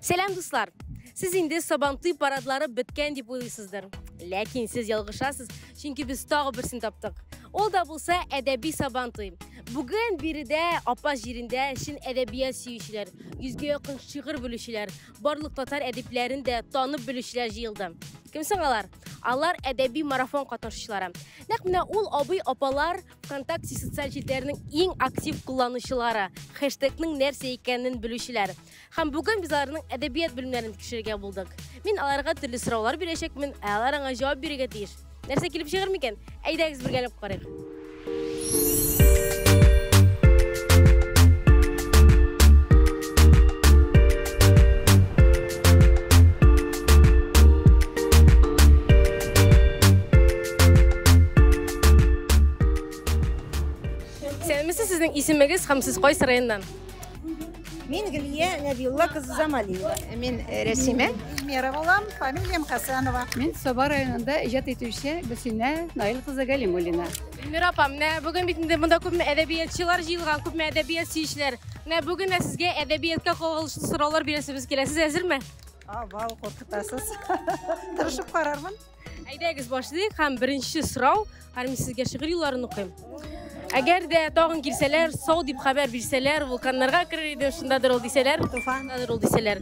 Сәлам дуслар! Сез инде Сабантуй парадлары беткән дип уйлыйсыздыр. Ләкин сез ялгышасыз, чөнки без тагы берсен таптык. Ул да булса әдәби Сабантуй. Бүген биредә апа җирендә чын әдәбият сөючеләр, йөзгә якын шигырь белүчеләр, барлык татар әдипләрен дә танып белүчеләр җыелды. Кем соң алар? Алар әдәби марафон катнашучылары. Нәкъ менә ул абый апалар Вконтакте социаль җирләренең иң актив кулланучылары, хэштегның нәрсә икәнен белүчеләр. Һәм бүген без аларның әдәбият белемнәрен тикшерергә булдык. Мин аларга төрле сораулар бирәчәкмен, ә алар аңа җавап бирергә тиеш. Нәрсә килеп чыгыр микән? Әйдәгез бергәләп карыйк. Сәләмәсе сезнең исемегез һәм сез кайсы районнан? Мин Гөлия Нәбиулла кызы Замалиева. Мин э, Рәсимә. Эльмира булам, фамилиям Хасанова. Мин Саба районында иҗат итүче Гөлсинә Наил кызы Галимуллина. Эльмира апа, менә бүген бит инде монда күпме әдәбиятчылар җыелган, күпме әдәбият сөючеләр. Менә бүген дә сезгә әдәбиятка кагылышлы сораулар бирәсебез килә. Сез әзерме? Авал куркытасыз. Тырышып карармын. Әйдәгез башлыйк һәм беренче сорау, һәм мин сезгә шигырь юлларын укыйм. Әгәр дә тагын килсәләр, сау дип хәбәр бирсәләр, вулканнарга керер идем, шундадыр ул дисәләр, Туфан. шундадыр ул дисәләр.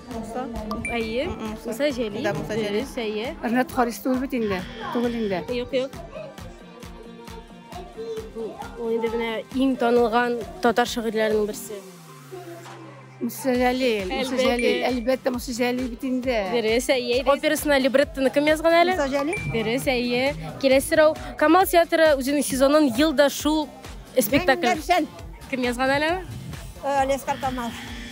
Муса? Әйе. Муса Җәлил. Да, Муса Җәлил. Дөрес, әйе. Ренат Харис түгел бит инде. Түгел инде. Юк, юк. Ул инде менә иң танылган татар шагыйрьләренең берсе. Муса Җәлил. Муса Әлбәттә. Җәлил. Әлбәттә Муса Җәлил бит инде. Дөрес, әйе. Операсына либреттоны кем язган әле? Муса Җәлил. Дөрес, әйе. Киләсе сорау. Камал театры үзенең сезонын елда шул спектакль. Кем язган әле? Лескар Камал.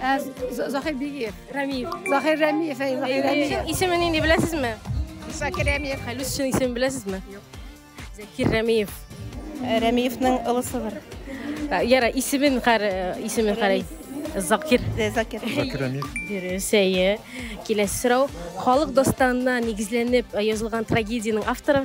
Ә Захир Бигиев. Рәмиев. Захир Рәмиев, әй, Захир Рәмиев. Исеме нинди беләсезме? Захир Рәмиев. Хәлүс чын исеме беләсезме? Юк. Закир Рәмиев. Э, Рәмиевның ылысыдыр. Э, Яра, исемен кар, э, исемен карай. Закир. Закир. Закир Рәмиев. Дөрес, әйе. Киләсе сорау. Халык дастанына нигезләнеп язылган трагедиянең авторы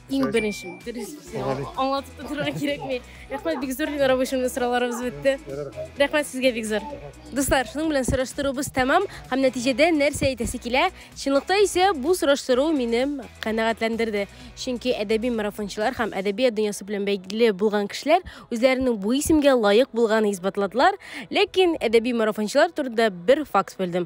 Иң беренче, дөрес аңлатып та торырга кирәкми. Рәхмәт бик зур Динара Бушинда сорауларыбыз бетте. Рәхмәт сезгә бик зур. Дуслар, шуның белән сораштыруыбыз тәмам һәм нәтиҗәдә нәрсә әйтәсе килә? Чынлыкта исә бу сораштыру мине канәгатьләндерде. Чөнки әдәби марафончылар һәм әдәбият дөньясы белән бәйле булган кешеләр үзләренең бу исемгә лаек булганын исбатладылар, ләкин әдәби марафончылар турында бер факт белдем.